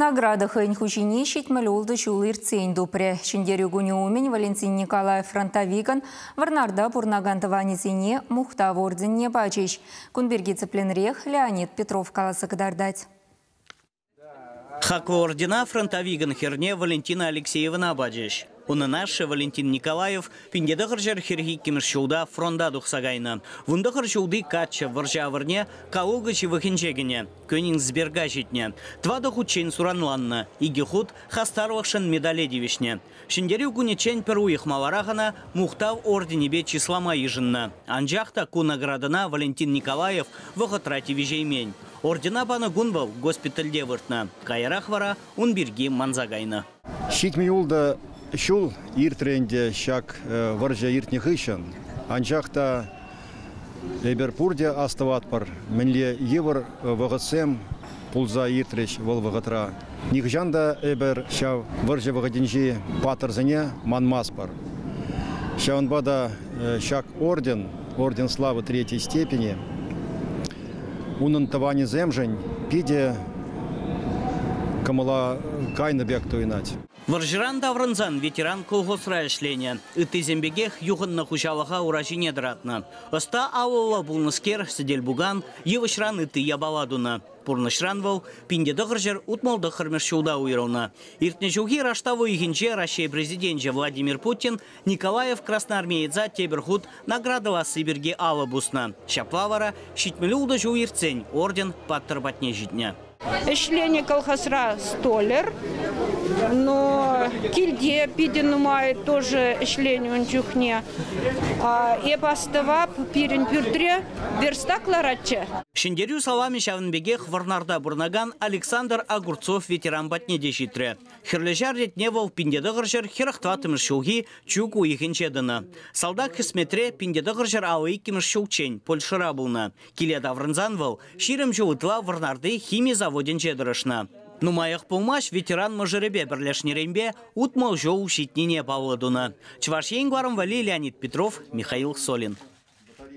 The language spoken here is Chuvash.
Награда хӑйӗн хуҫине ҫитмӗл ултӑ ҫул иртсен тупрӗ. Ҫӗнтерӳ кунӗ умӗн Валентин Николаев фронтовикӑн Вӑрнарта пурӑнакан тӑванӗсене мухтав орденне пачӗҫ. Кун пирки тӗплӗнрех Леонид Петров каласа кӑтартать. Хаклӑ ордена фронтовикӑн хӗрне Валентина Алексеевӑна пачӗҫ. Унӑн ашшӗ Валентин Николаев пин те тӑхӑр ҫӗр хӗрӗх иккӗмӗш ҫулта фронта тухса кайнӑ. Вун тӑхӑр ҫулти каччӑ вӑрҫӑ авӑрне Каулкӑ ҫывӑхӗнче кӗнӗ, Кёнигсберга ҫитнӗ. Тӑватӑ хутчен суранланнӑ, икӗ хут хастарлӑхшӑн медале тивӗҫнӗ. Ҫӗнтерӳ кунӗччен пӗр уйӑх маларах ӑна Мухтав орденӗпе чыслама йышӑннӑ. Анчах та ку наградӑна Валентин Николаев вӑхӑтра тивӗҫеймен. Ордена панӑ кун вӑл госпитальте выртнӑ, каярах вара ун пирки манса кайнӑ. Ҫитмӗл ултӑ ҫул иртрӗ ӗнтӗ ҫак вӑрҫӑ иртнӗ хыҫҫӑн. Анчах та эпир пурте астӑватпӑр, мӗнле йывӑр вӑхӑтсем пулса иртрӗҫ вӑл вӑхӑтра. Нихӑҫан та эпир ҫав вӑрҫӑ вӑхӑтӗнчи паттӑрсене манмастпӑр. Ҫавӑнпа та ҫак орден, орден славы третьей степени, унӑн тӑванӗсемшӗн питӗ кӑмӑла кайнӑ пек туйӑнать. Вӑрҫӑран таврӑнсан ветеран колхозра ӗҫленӗ. Ыттисем пекех юхӑннӑ хуҫалӑха ура ҫине тӑратнӑ. Ӑста алӑллӑ пулнӑскер сӗтел-пукан, йывӑҫран ытти япала тунӑ. Пурнӑҫран вӑл пин-те-тӑхӑр ҫӗр утмӑл-тӑххӑрмӗш ҫулта уйрӑлнӑ. Иртнӗ ҫулхи раштав уйӑхӗнче Раҫҫей Президенчӗ Владимир Путин Николаев красноармееца тепӗр хут наградӑласси пирки алӑ пуснӑ. Ҫапла вара ҫитмӗле ултӑ ҫул иртсен орден паттӑр патне ҫитнӗ. Ӗҫленӗ колхозра столер, но килте питӗ нумай тоже ӗҫленӗ ун чухне. Эп астӑвап, пирӗн пӳртре верстак ларатчӗ. Ҫӗнтерӳ саламӗ ҫавӑн пекех Вӑрнарта пурӑнакан Александр Огурцов ветеран патне те ҫитрӗ. Хӗрлӗҫар ретне вӑл пин-те-тӑхӑрҫӗр хӗрӗх тӑваттӑмӗш ҫулхи чӳк уйӑхӗнче тӑнӑ. Салтак хӗсметре пин-те-тӑхӑрҫӗр авӑ иккӗмӗш ҫулччен Польшӑра пулнӑ. Киле таврӑнсан вӑл ҫирӗм ҫул ытла Вӑрнарти хими заводӗнче тӑрӑшнӑ. Нумаях пулмасть ветеран мӑшӑрӗпе пӗрлешнӗренпе утмӑл ҫул ҫитнине паллӑ тунӑ Чӑваш Ен гварм валли Леонид Петров, Михаил Солин.